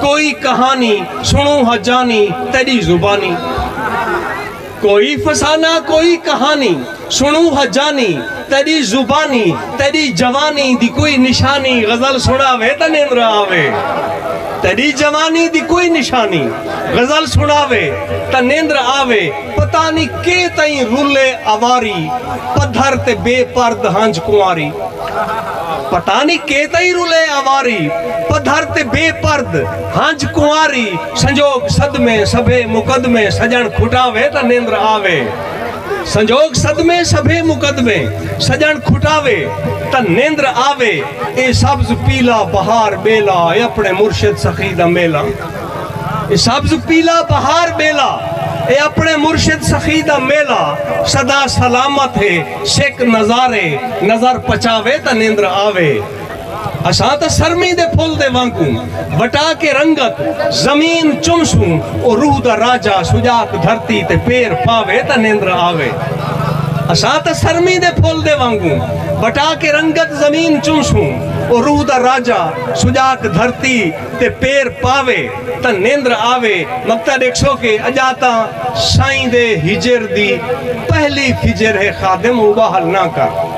کوئی کہانی سنوں ہا جانی تیڈی زبانی کوئی فسانہ کوئی کہانی سنوں ہا جانی تیڈی زبانی تیڈی جوانی دی کوئی نشانی غزل سنا وے تے نیندر آوے تیڈی جوانی دی کوئی نشانی غزل سنا وے تے نیندر آوے پتہ نی کے تئیں رلے اواری پدھر تے بے پرد ہنج کنواری پتہ نی کے تئیں رلے آواری پدھر تے بے پرد ہنج کنواری سنجوگ صدمے سبھے مقدمے سجݨ کھٹاوے تاں نندر آوے سنجوگ صدمے سبھے مقدمے سجݨ کھٹاوے تاں نندر آوے اے سبز پیلا بہار بیلا اے اپنے مرشد سخی دا میلا اے سبز پیلا بہار بیلا اے اپنے مرشد سخی دا میلا سدا سلامت ہے سک نظارے نظر پچاوے تاں نیندر آوے اساں تاں سرمی دے پھل دے وانگوں وٹا کے رنگت زمین چمسوں او روح دا راجہ سجاک دھرتی تے پیر پاوے تاں نیندر آوے اساں تاں سرمی دے پھل دے وانگوں وٹا کے رنگت زمین چمسوں او روح دا راجہ سجاک دھرتی تے پیر پاوے تاں نیندر آوے مکتا ڈیکھسو کہ اجا تاں سائیں دے ہجر دی پہلی فجر ہے خادم اوبا حل نہ کر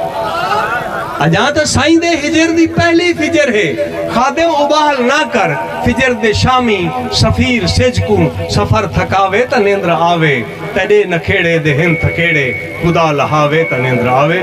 اجا تاں سائیں دے ہجر دی پہلی فجر ہے خادم اوبا حل نہ کر فجر دے شامی سفیر سج کو سفر تھکاوے تاں نیندر آوے تیڈے نکھیڑے دے ہن تھکیڑے خدا لہاوے تاں نیندر آوے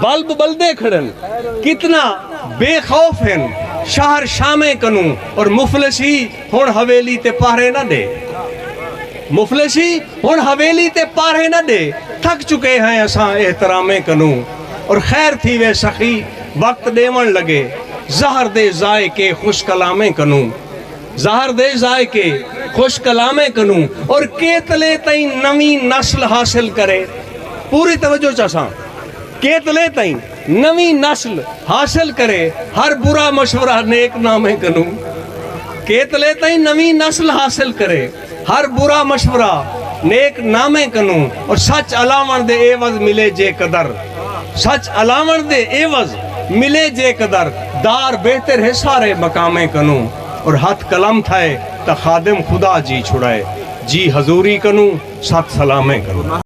بلب بلدے کھڑن کتنا بے خوف ہن شہر شامیں کنوں اور مفلسی ہن حویلی تے پہرے نہ ڈے مفلسی ہن حویلی تے پہرے نہ ڈے تھک چکے ہیں اساں احترامیں کنوں اور خیر تھی وے سخی وقت ڈیون لگے زہر دے ذائقے خوش کلامیں کنوں زہر دے ذائقے، خوش کلامیں کنوں اور کیتلے تئیں نویں نسل حاصل کرے۔ پوری توجہ چاساں۔ کیتلے تئیں نویں نسل حاصل کرے ہر برا مشورہ نیک نامیں کنوں۔ کیتلے تئیں نویں نسل حاصل کرے۔ ہر برا مشورہ نیک نامیں کنوں اور سچ الاوݨ دے عیوض ملے جے قدر سچ الاوݨ دے عیوض ملے جے قدر دار بہتر ہے سارے مقامیں کنوں اور ہتھ قلم تھئے تاں خادم خدا جی چھڑائے جی حضوری کنوں ست سلامیں کنوں۔